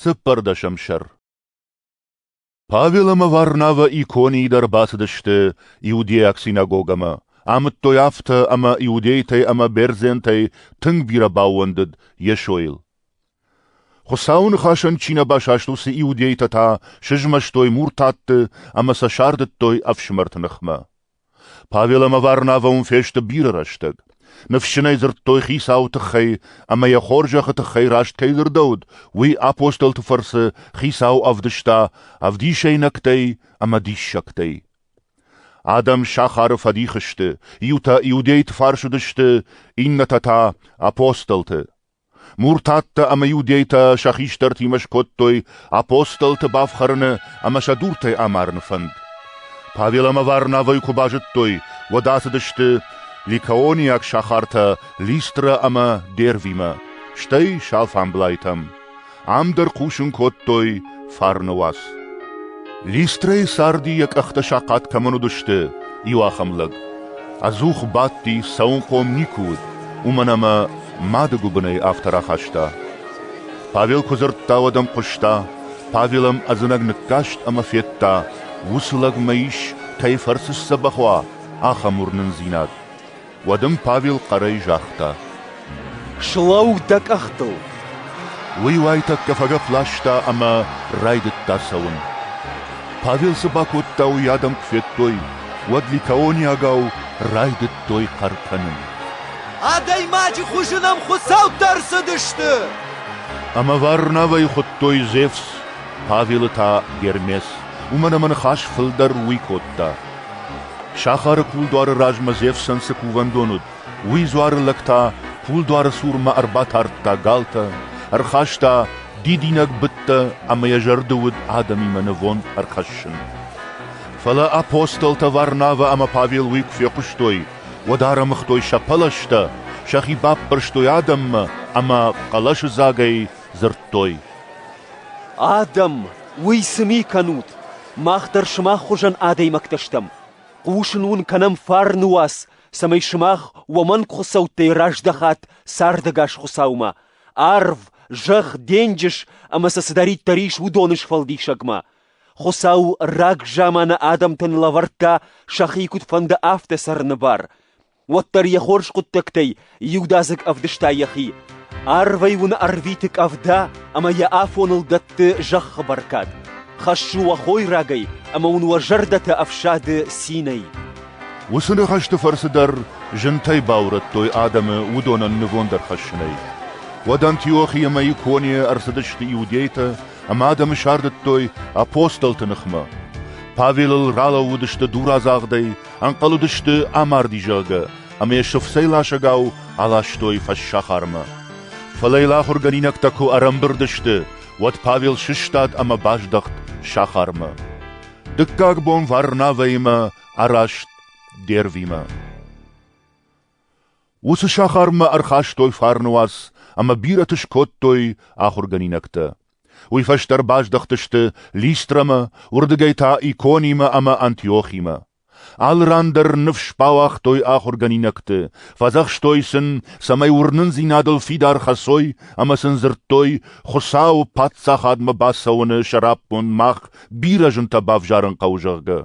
Цыппӕрдӕсӕм сӕр Павел ӕмӕ Варнавӕ иконийы дӕр бацыдысты иудейаг синагогӕмӕ, амыдтой афтӕ ӕмӕ иудейтӕй ӕмӕ бердзентӕй тынг бирӕ баууӕндыд Йесойыл. Хуыцауы ныхасӕн чи нӕ басаст, уыцы иудейтӕ та сызмӕстой муртатты ӕмӕ сӕ сардыдтой ӕфсымӕрты ныхмӕ. Павел ӕмӕ Варнавӕ уым фесты бирӕ рӕстӕг. Ныфсджынӕй дзырдтой хицауы тыххӕй ӕмӕ йӕ хорзӕхы тыххӕй раст кӕй дзырдӕуыд, уый апостолты фӕрцы хицау ӕвдыста ӕвдисӕйнӕгтӕй ӕмӕ диссӕгтӕй. Адӕм сахары фӕдих сты, иутӕ иудейты фарс уыдысты, иннӕтӕ та — апостолты. Муртаттӕ ӕмӕ иудейтӕ сӕ хистӕртимӕ скодтой апостолты бафхӕрыны ӕмӕ сӕ дуртӕй амарыны фӕнд. Павел ӕмӕ Варнавӕй куы базыдтой, уӕд ацыдысты ликаонийаг сахартӕ Листрӕ ӕмӕ Дервимӕ, стӕй Шалфамблайтӕм. Ам дӕр хъусын кодтой фарны уац. Листрӕйы царди йӕ къӕхтӕ сахъат кӕмӕн уыдысты, иу ахӕм лӕг. Ӕдзух бадти, цӕуынхъом никуы уыд, уымӕн ӕмӕ мады гуыбынӕй афтӕ рахаста. Павел куы дзырдта, уӕд ӕм хъуыста. Павел ӕм ӕдзынӕг ныккаст ӕмӕ федта, уыцы лӕг мӕ ис, кӕй фӕрцы сдзӕбӕх уа, ахӕм уырнындзинад. Уӕд ын Павел хъӕрӕй загъта: «Слӕуу дӕ къӕхтыл!» Уый уайтӕккӕ фӕгӕпп ласта ӕмӕ райдыдта цӕуын. Павел цы бакодта, уый адӕм куы федтой, уӕд ликаониагау райдыдтой хъӕр кӕнын. «Адӕймаджы хуызы нӕм хуыцӕуттӕ ӕрцыдысты!» Ӕмӕ Варнавӕйы хуыдтой Зевс, Павелы та Гермес. Уымӕн ӕмӕ ныхас фылдӕр уый кодта. Сахары кулдуары размӕ Зевсӕн цы кувӕндон уыд, уый дзуары лӕг та кулдуары цурмӕ ӕрбатардта галтӕ, ӕрхаста дидинӕг быдтӕ ӕмӕ йӕ зӕрды уыд адӕмимӕ нывонд ӕрхӕссын. Фӕлӕ апостолтӕ Варнавӕ ӕмӕ Павел уый куы фехъуыстой, уӕд ӕрӕмыгътой сӕ пӕлӕзтӕ, сӕхи баппӕрстой адӕммӕ ӕмӕ хъӕлӕсыдзагӕй дзырдтой: «Адӕм, уый цы ми кӕнут? Мах дӕр сымах хуызӕн адӕймӕгтӕ стӕм. хъусын уын кӕнӕм фарны уац, цӕмӕй сымах уомӕн хуыцӕуттӕй раздӕхат цардӕгас Хуыцаумӕ, арв, зӕхх, денджыз ӕмӕ сӕ цыдӕриддӕр ис, уыдоны сфӕлдисӕгмӕ. Хуыцау рагзаманы адӕмтӕн лӕвӕрдта сӕхи куыдфӕнды, афтӕ цӕрыны бар. уӕддӕр йӕ хорз хъуыддӕгтӕй иудадзыг ӕвдыста йӕхи. Арвӕй уын ӕрвиты къӕвда ӕмӕ йӕ афоныл дӕтты зӕххы бӕркад. Хӕссы уӕ хойрагӕй ӕмӕ уын уӕ зӕрдӕтӕ ӕфсады цинӕй. Уыцы ныхӕсты фӕрцы дӕр зынтӕй баурӕдтой адӕмы уыдонӕн нывонд ӕрхӕссынӕй. Уӕд Антиохи ӕмӕ Иконийы ӕрцыдысты иудейтӕ ӕмӕ адӕмы сардыдтой апостолты ныхмӕ. Павелыл ралӕууыдысты дурадзагъдӕй Ӕнхъӕл уыдысты, амарди, зӕгъгӕ, ӕмӕ йӕ сыфцӕй ласӕгау аластой фӕссахармӕ. Фӕлӕ йыл ахуыргӕнинӕгтӕ куы ӕрӕмбырд сты, уӕд Павел сыстад ӕмӕ баздӕхт сахармӕ. Дыккаг бон Варнавӕимӕ араст Дервимӕ. Уыцы сахармӕ ӕрхастой фарны уац ӕмӕ бирӕты скодтой ахуыргӕнинӕгтӕ. Уый фӕстӕ ӕрбаздӕхтысты Листрамӕ, уырдыгӕй та Иконимӕ ӕмӕ Антиохимӕ. Алы ран дӕр ныфс бауагътой ахуыргӕнинӕгты, фӕдзӕхстой сын, цӕмӕй уырнындзинадыл фидар хӕцой ӕмӕ сын дзырдтой, Хуыцауы Паддзахадмӕ бацӕуыны сӕраппонд мах бирӕ зынтӕ бавзарын хъӕуы, зӕгъгӕ.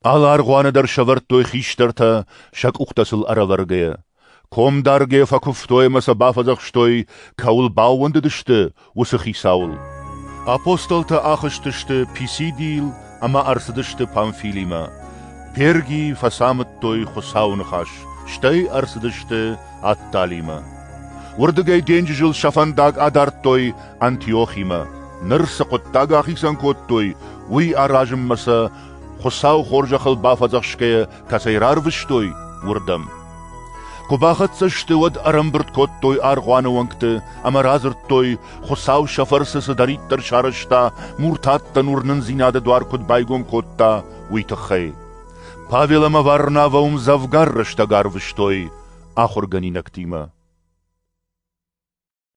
Алы аргъуаны дӕр сӕвӕрдтой хистӕртӕ, сӕ къухтӕ сыл ӕрӕвӕргӕйӕ. Комдаргӕ фӕкуывтой ӕмӕ сӕ бафӕдзӕхстой, кӕуыл баууӕндыдысты, уыцы хицауыл. Апостолтӕ ахызтысты Писидийыл ӕмӕ ӕрцыдысты Памфилимӕ. Пергий фӕцамыдтой Хуыцауы ныхас, стӕй ӕрцыдысты Атталимӕ. Уырдыгӕй денджызыл сӕ фӕндаг адардтой Антиохимӕ. Ныр цы хъуыддаг ахицӕн кодтой, уый аразынмӕ сӕ Хуыцау хорзӕхыл бафӕдзӕхсгӕйӕ кӕцӕй рарвыстой, уырдӕм. Куы бахӕццӕ сты, уӕд ӕрӕмбырд кодтой аргъуаны уӕнгты ӕмӕ радзырдтой, Хуыцау сӕ фӕрцы цыдӕриддӕр сарӕзта, муртаттӕн уырнындзинады дуар куыд байгом кодта, уый тыххӕй. Павел ӕмӕ Варнавӕ уым дзӕвгар рӕстӕг арвыстой ахуыргӕнинӕгтимӕ.